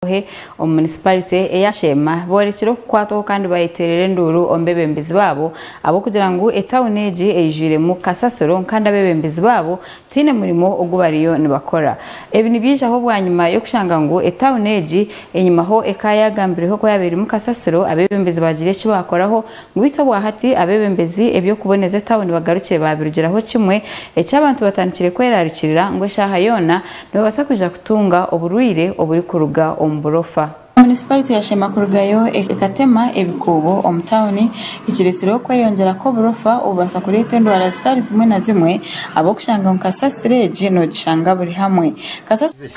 Kahohe omu munisiparite eya Sheema boorekire okukwatwaho kandi bayeteerera enduuru omu beebembezi baabo ahabw'okugira ngu etauni egi eijwiremu kasasiro kandi abeebembezi baabo tihaine murimo ogu bariyo nibakora. Ebi nibyijaho bwanyima y'okushanga ngu etauni egi enyima ho ekaayagambireho ku yaabaire erimu kasasiro abeebembezi baagira eki baakoraho Beitu obwahati abebembezi ebyokuboneza etawuni bagarukire babirugiraho kimwe eki abantu batandikire kwerarikirira ngu eshaaha yoona nibabasa kwija kutunga oburwaire oburi kuruga omu burofa. Municipality ya Sheema kurugayo ekatema ebikuubo omu tawuni ekiretsire okweyongyera kwoburofa obubasa kureta endwara zitari zimwe na zimwe abokushanga ngu kasasiro egi nogishanga buri hamwe. Kasasiro.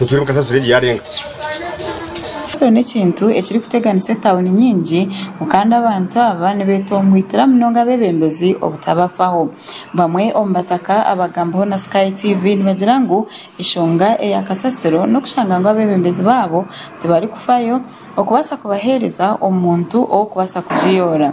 nitwimuka ensasiro egyo yaarenga. Ensasiro n'ekintu ekirikuteganisa etauni nyingi mu kandi abantu aba nibeetomboitira munonga abeebembezi obutabafaho. Bamwe omu bataka abaagambiweho na Sky TV nibagira ngu enshonga eya kasasiro n'okushanga ngu abeebembezi baabo tibarikufayo okubaasa kubaheereza omuntu ow'okubaasa kugiyoora.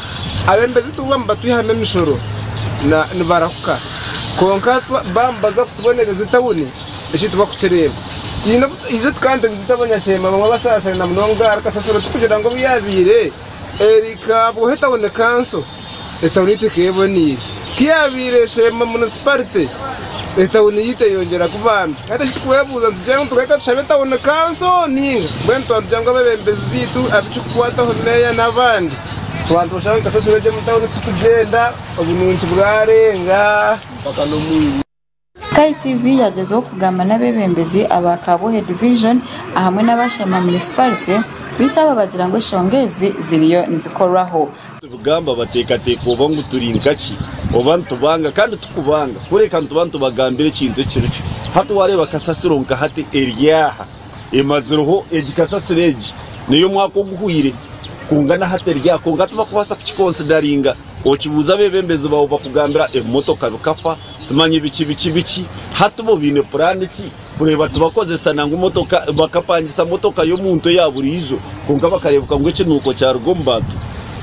Abembezi tibaba nibatwihamu emishoro nibarahuka kwonka baba nibaza kutubonereza etauni eki tibarikukireeba. Itwe tukaba nitugizita abanyasheema abamwe abasaasaine munonga ahari kasasiro turikugira ngu obu yaabaire eri nkaabwaho etauni kanso, etauni yaitu ekaba eboneire. Ku yaabaire Sheema munisiparite, etauni yaitu eyeyongyera kuba mbi. Hati eki turikwebuuza nitugira ngu tugaruke tushabe etauni kanso nainga? Mbwenu twaba nitugira ngu abebembezi baitu ab'ekirikukwataho, meeya n'abandi, Twaba nitushaba nka esasiro egyo omu tawuni titugyenda obunungi bwarenga. KTV yagyezaho kugamba n'abebembezi aba Kabuhe Division ahamwe n'aba Sheema Municipality beitu abo bagira ngu eshonga ezi ziriyo nizikorwaho. Tubigamba bateekateeka oba ngu turi nka ki oba nitubanga kandi tikubanga kureka nituba nitubagambira ekintu ekirikyo. Hati wareeba kasasiro nka hati eri aha. emazireho egi kasasiro egi neyomwaka oguhweire kwonka naha teryaho kwonka tibakubaasa kukikonsidaringa okibuuza abebembezi baawe bakugambira ebimotoka bikafa simanya biki biki biki hati bo baine puraani ki kureeba tibakozesa nangwa emotoka bakapangisa motoka y'omuntu eya buriijo kwonka bakareebeka ngu ekinuuko kyaruga omu bantu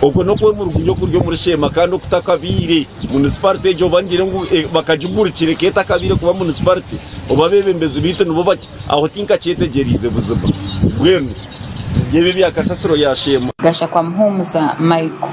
okwo nokwemurugurya okuri omuri sheema kandi okutakabaire munisiparite egi oba ngire ngu bakagigurukira eka etakabaire kuba munisiparite oba abebembezi baitu nibo Aho tinkakyetegyeriize buzima. Mbwenu ebyo ebya kasasiro ya Sheema. Gashakwa Muhumuza Michael.